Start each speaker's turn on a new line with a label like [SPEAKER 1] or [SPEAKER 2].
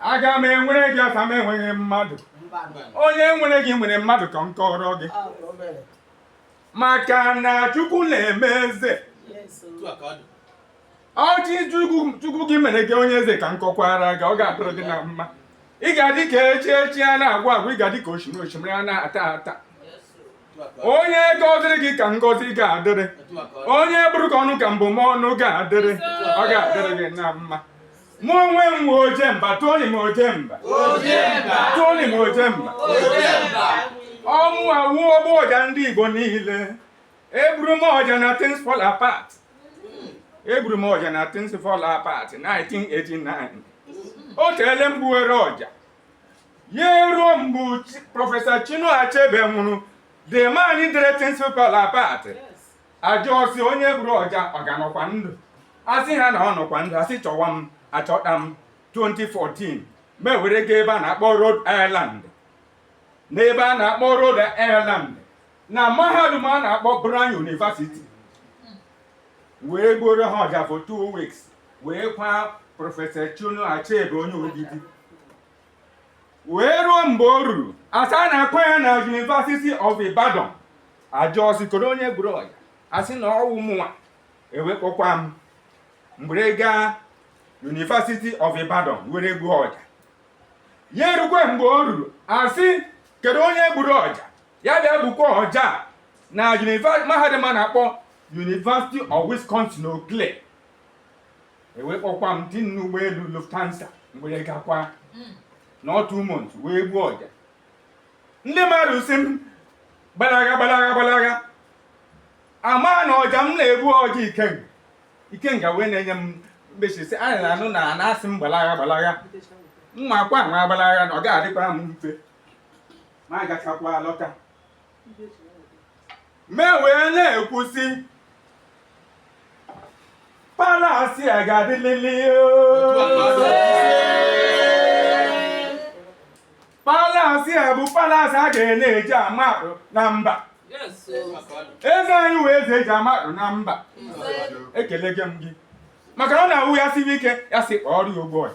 [SPEAKER 1] aga m enwere gị asa m enweghị mmadụ onye nwere gị nwere mmadụ ka m kọọrọ gị maka na chukwu na-eme eze ọchị chukwu gị mere gị onye eze ka m kọkwara gị ọ ga-adịrị gị na mma ị ga-adị ka echi echi a na-agwa agwa ị ga-adị ka osimiri osimiri a na-ata ata onye gọziri gị ka ngọzi ga-adịrị onye bụrụ gị ọnụ ka mbụmọnụ ga-adịrị ọ ga-adịrị gị na mma mụ onwe m nwe ojemba toni m ojemba toni m ojemba ọ mụwa wụ ogbu ọja ndị igbo niile egburu m ọja na things fall apart egburu m ọja na things fall apart 1989 o teele m gbuwere ọja ya eruo mgbe prọfesọ Chinua Achebe nwụrụ the man dere things fall apart a jụọ sị onye gburu ọja ọ ka nọkwa ndụ a sị ha na ọ nọkwa ndụ a sị chọwa m a chọta m 2014 m were ga ebe a na-akpọ Rhode Island n'ebe a na-akpọ Rhode Island na mahadum a na-akpọ Brown University wee gbuoro ha ọja for two weeks wee kwa prọfesọ Chinua Achebe onye Ogidi wee ruo mgbe o ruru a sị a na-akwa ya na University of Ibadan a jụọ sị kedu onye gburu ọja a sị na ọ wụ mụnwa e wee kpọkwa m m were gaa University of Ibadan were gbuo ọja ya erukwe mgbe o ruru a sị kedu onye gburu ọja ya bịa gbukwa ọja na mahadum a na-akpọ University of Wisconsin Eau Claire e wee kpọkwa m tinye n'ụgbọelu Lufthansa m were gakwa nọọ two months wee gbuo ọja ndị mmadụ sị m gbalaga gbalaga gbalaga ama na ọja m na-egbu ọja ikenga ikenga wee na-enye m mbechi si anyị na-anụ na na-asị m gbalaga gbalaga mma akwa nwa gbalaga na ọ ga-adịkwara m mfe m agachakwa lọta m wee na-ekwu sị palasi a ga-adịlili palasi a bụ palasi a ga na-eji ama atụ na mba eze anyị wụ eze e ji ama atụ na mba ekelekwa m gị maka na ọ na-awụ ya siri ike ya si kpọọ ọrụ ya ụgbọ ya